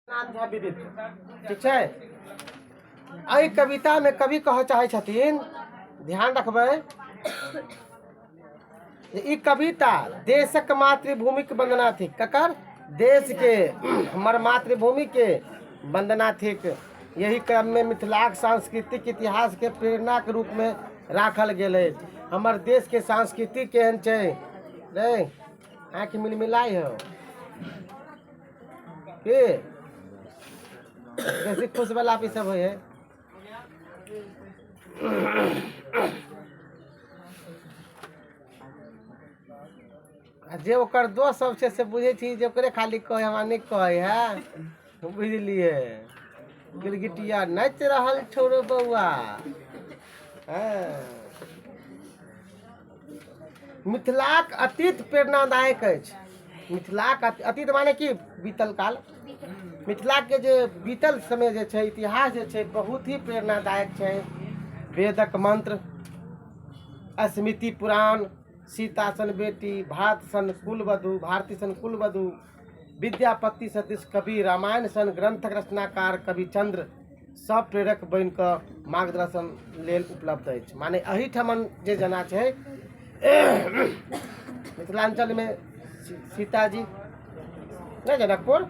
नाथ झा विदित ठीक छै एहि कवितामे कवि कहऽ चाहै छथिन ध्यान रखबै जे ई कविता देशक मातृभूमिक वंदना थिक ककर देशके हमर मातृभूमिके वंदना थिक यही क्रममे मिथिलाक सांस्कृतिक इतिहासके प्रेरणाके रूपमे राखल गेल अछि हमर देशके संस्कृति केहन छै रे आँखि मिलमिलाइ हौ की बेसी खुश वाला भी सब है आ जे ओकर दोस्त सब छै से बुझै छी जे ओकरे खाली कहै हमरा नहि कहै है बुझलिए गिरगिटिया नाच रहल छोरो बौआ हाँ। मिथिलाक अतीत प्रेरणादायक अछि मिथिलाक अतीत माने की बीतल काल मिथिलाके जे बीतल समय जे छै इतिहास जे छै बहुत ही प्रेरणादायक छै वेदक मन्त्र स्मृति पुराण सीता सन बेटी भारत सन कुलवधु भारती सन कुलवधु विद्यापति सदृश कवि रामायण सन ग्रंथक रचनाकार कवि चंद्र सब प्रेरक बनि कऽ मार्गदर्शन लेल उपलब्ध अछि माने एहिठामन जे जेना छै मिथिलाञ्चलमे सी- सीताजी नहि जनकपुर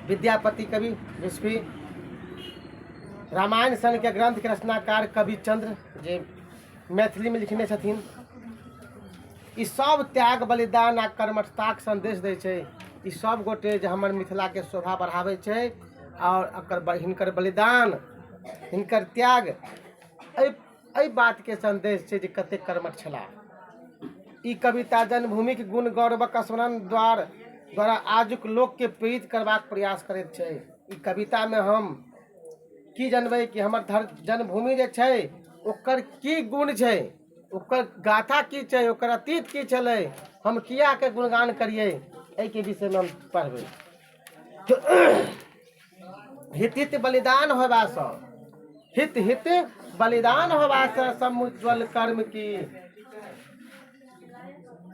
विद्यापति कवि विश्वी रामायण सनके ग्रंथके रचनाकार कवि चंद्र जे मैथिलीमे लिखने छथिन ई सब त्याग बलिदान आ कर्मठताक संदेश दै छै ई सब गोटे जे हमर मिथिलाके शोभा बढ़ाबै छै आओर एकर ब- हिनकर बलिदान हिनकर त्याग एहि एहि बातके संदेश छै जे कतेक कर्मठ छलाह ई कविता जन्मभूमिक गुण गौरवक स्मरण द्वार द्वारा आजुक लोकके प्रेरित करबाक प्रयास करैत छै ई कवितामे हम की जानबै कि हमर धर जन्मभूमि जे छै ओकर की गुण छै ओकर गाथा की छै ओकर अतीत की छलै हम कियाके गुणगान करियै एहिके विषयमे हम पढ़बै हित हित बलिदान होयबासँ हित हित बलिदान होयबासँ समुज्ज्वल कर्म की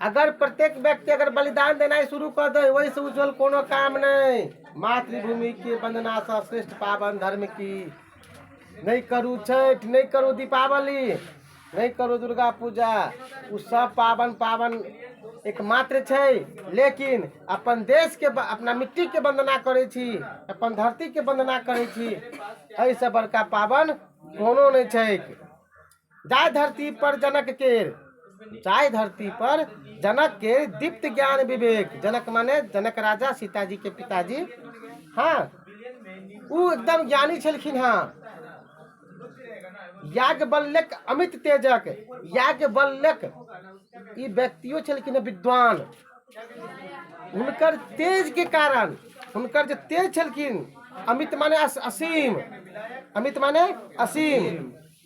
अगर प्रत्येक व्यक्ति अगर बलिदान देनाइ शुरू कऽ दै ओहिसँ उज्ज्वल कोनो काम नहि मातृभूमिके वन्दनासँ श्रेष्ठ पावन धर्म की नहि करू छठि नहि करू दीपावली नहि करू दुर्गा पूजा ओ सब पावन पावन एकमात्र छै लेकिन अपन देशके अपना मिट्टीके वन्दना करै छी अपन धरतीके वन्दना करै छी एहिसँ बड़का पावन कोनो नहि छैक जाहि धरती पर जनक केर जाहि धरती पर जनक केर दीप्त ज्ञान विवेक जनक माने जनक राजा सीताजी के पिताजी हाँ ओ एकदम ज्ञानी छलखिन हाँ याज्ञवल्लक अमित तेजक याज्ञवल्लक ई व्यक्तियो छलखिन विद्वान हुनकर तेज के कारण हुनकर जे तेज छलखिन अमित माने असीम अमित माने असीम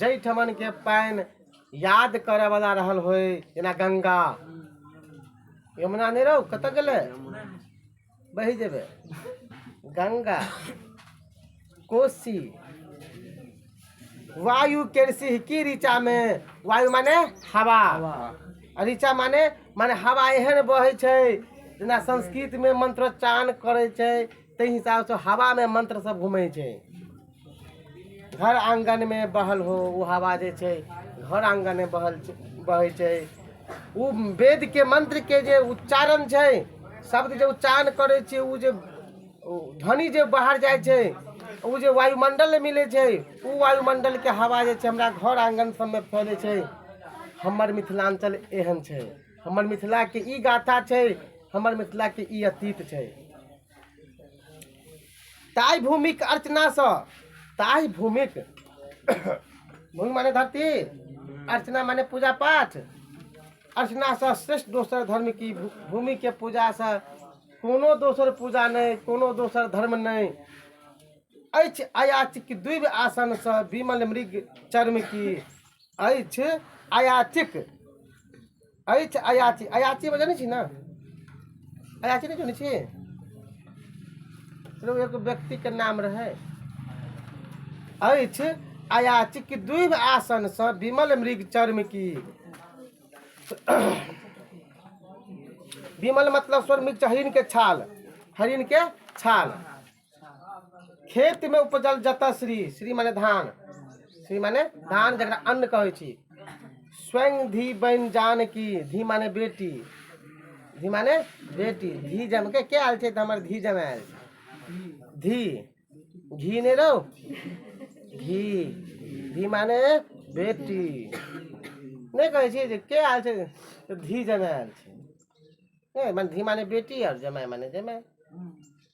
जाहि ठमनके पानि याद करयवला रहल होय जेना गंगा यमुना नहि रहू कतऽ गेलै बहि जेबै गंगा कोसी वायु के सिहकी ऋचा में वायु माने हवा आ ऋचा माने माने हवा एहन बहै छै जेना संस्कृतमे मंत्रोच्चारण करै छै ताहि हिसाबसँ हवामे मंत्र सब घूमै छै घर आङ्गनमे बहल हो ओ हवा जे छै घर आङ्गनमे बहल बहै छै ओ वेदके मन्त्रके जे उच्चारण छै शब्द जे उच्चारण करै छै ओ जे ध्वनि जे बाहर जाइ छै ओ जे वायुमण्डलमे मिलै छै ओ वायुमण्डलके हवा जे छै हमरा घर आङ्गन सबमे फैलै छै हमर मिथिलाञ्चल एहन छै हमर मिथिलाके ई गाथा छै हमर मिथिलाके ई अतीत छै ताहि भूमिक अर्चना सँ ताहि भूमिक भूमि माने धरती अर्चना माने पूजा पाठ अर्चना सँ श्रेष्ठ दोसर धर्म की भू- भूमि के पूजा सँ कोनो दोसर पूजा नहि कोनो दोसर धर्म नहि अछि अयाचिक द्विव आसन सँ विमल मृग चर्म की अछि अयाचिक अरे छै अयाची अयाची बजै नहि छी ने अयाची नहि जनै छी चलू एगो व्यक्तिके नाम रहै अछि अयाची कि दुइभ आसनसँ विमल मृग चर्म की विमल मतलब स्वर मृग हरिणके छाल हरिणके छाल खेत में उपजल जतः श्री श्री माने धान श्री माने धान जकरा अन्न कहै छी स्वयं धी बन जान की धी माने बेटी धी माने बेटी धी जम के के आयल छै तऽ हमर धी जम आयल छै धी घी नहि रहो घी धी माने बेटी नहि कहै छियै जे के आयल छै तऽ धी जमाय आयल छै नहि माने धी माने बेटी आओर जमाय माने जमाय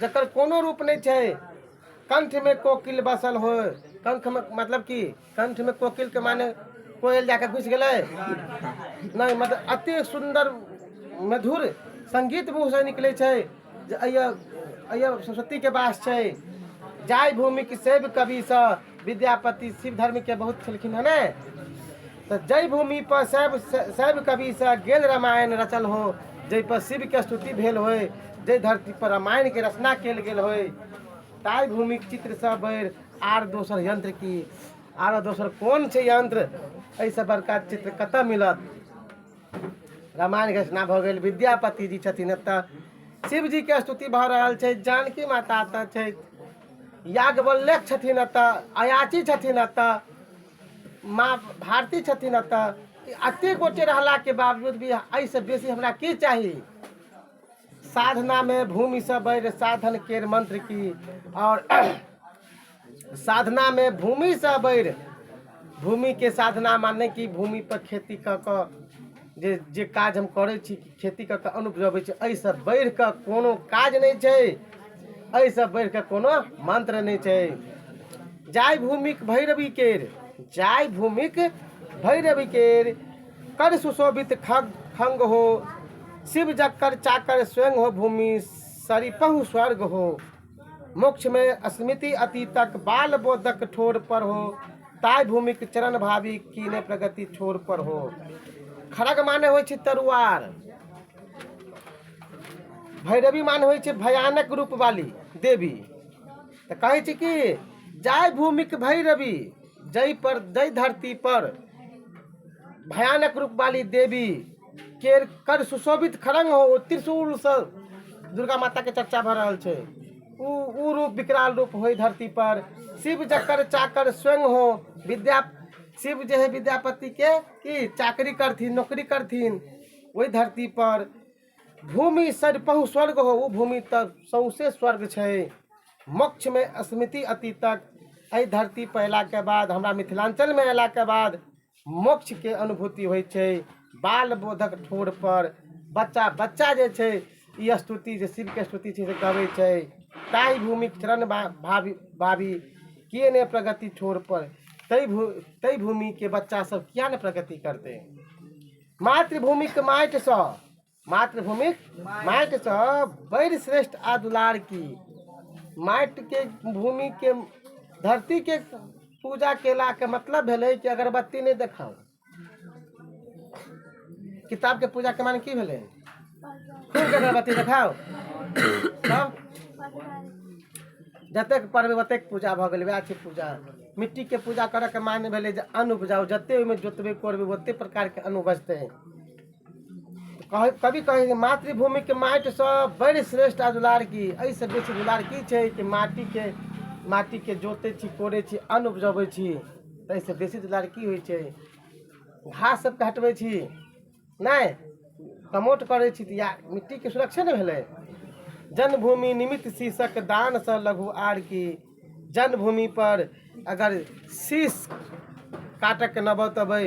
जकर कोनो रूप नहि छै कंठमे कोकिल बसल हो कंठमे मतलब की कंठमे कोकिलके माने कोयल जाके घुसि गेलै नहि मतलब अते सुन्दर मधुर संगीत मुँहसँ निकलै छै जे अइए अइए सरस्वतीके वास छै जाहि भूमिक सेव कविसँ विद्यापति शिव धर्मके बहुत छलखिन हँ ने तऽ जाहि भूमिपर शैव शैव कविसँ गेल रामायण रचल हो जाहिपर शिवके स्तुति भेल होय जाहि धरतीपर रामायणके रचना कयल गेल होय ताहि भूमिक चित्रसँ बढ़ि आर दोसर यन्त्र की आर दोसर कोन छै यन्त्र एहिसँ बड़का चित्र कतय मिलत रामायण घोषणा भऽ गेल विद्यापति जी छथिन एतऽ शिवजीके स्तुति भऽ रहल छै जानकी माता एतऽ छथि याज्ञवल्लक छथिन एतऽ अयाची छथिन एतऽ माँ भारती छथिन एतऽ एतेक गोटे रहलाके बावजूद भी एहिसँ बेसी हमरा की चाही साधनामे भूमिसँ बैर साधन केर मंत्र की आओर साधनामे भूमिसँ बैर भूमिके साधना माने कि भूमिपर खेती कऽ कऽ जे जे काज हम करै छी खेती कऽ कऽ अन्न उपजबै छी एहिसँ बढ़ि कऽ कोनो काज नहि छै एहिसँ बढ़ि कऽ कोनो मन्त्र नहि छै जाहि भूमिक भैरवि केर जाहि भूमिक भैरवि केर कर सुशोभित खग खङ्ग हो शिव जकर चाकर स्वयं हो भूमि सरिपहु स्वर्ग हो मोक्षमे स्मृति अतीतक बाल बोधक ठोर पर हो ताय भूमिक चरण भावी कीने प्रगति छोर पर हो खड़ग माने होइ छै तरुआर भैरवी माने होइ छै भयानक रूप वाली देवी तऽ कहै छै कि जाय भूमिक भैरवी जय पर जय धरती पर भयानक रूप वाली देवी केर कर सुशोभित खड़ंग हो ओ त्रिशूलसँ दुर्गा माताके चर्चा भऽ रहल छै ओ ओ रूप विकराल रूप होइ धरती पर शिव जकर चाकर स्वयं हो विद्या शिव जे है विद्यापतिके की चाकरी करथिन नौकरी करथिन ओहि धरती पर भूमि सरिपहु स्वर्ग हो ओ भूमि तऽ सौंसे स्वर्ग छै मोक्षमे स्मृति अतीतक एहि धरती पर अयलाके बाद हमरा मिथिलाञ्चलमे अयलाके बाद मोक्षके अनुभूति होइ छै बाल बोधक ठोर पर बच्चा बच्चा जे छै ई स्तुति जे शिवके स्तुति छै से गबै छै ताहि भूमि चरण भावी भावी किए नहि प्रगति ठोर पर ताहि भू ताहि भूमिके बच्चा सब किए नहि प्रगति करतै मातृभूमिके माटिसँ मातृभूमिक माटिसँ बड़ि श्रेष्ठ आ दुलार की माटिके भूमिके धरतीके पूजा केलाके मतलब भेलै कि अगरबत्ती नहि देखाउ किताबके पूजाके माने की भेलै खूब अगरबत्ती देखाउ तब जतेक पढ़बै ओतेक पूजा भऽ गेलै वएह छै पूजा मिट्टीके पूजा करऽके माने भेलै जे अन्न उपजाउ जतेक ओहिमे जोतबै कोड़बै ओतेक प्रकारके अन्न उपजतै कह- कभी कहै छै मातृभूमि के माटि से बड़ी श्रेष्ठ आ दुलार की एहि से बेसी दुलार की छै कि माटी के माटी के जोते छी कोड़े छी अन्न उपजबै छी ताहि से बेसी दुलार की होइ छै घास सबके हटबै छी नहि कमोट करै छी तऽ या मिट्टी के सुरक्षे ने भेलै जन्मभूमि निमित्त शीर्षक दान से लघु आर की जन्मभूमि पर अगर शीश काटऽके नौबत अबै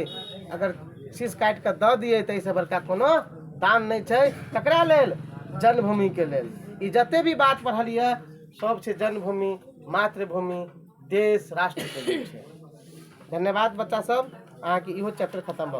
अगर शीश काटि कऽ दऽ दियै तऽ एहिसँ बड़का कोनो दान नहि छै ककरा लेल जन्मभूमिके लेल ई जते भी बात पढ़लियै सब छै जन्मभूमि मातृभूमि देश राष्ट्रके लेल छै धन्यवाद बच्चा सब अहाँके इहो चैप्टर खतम भऽ गेल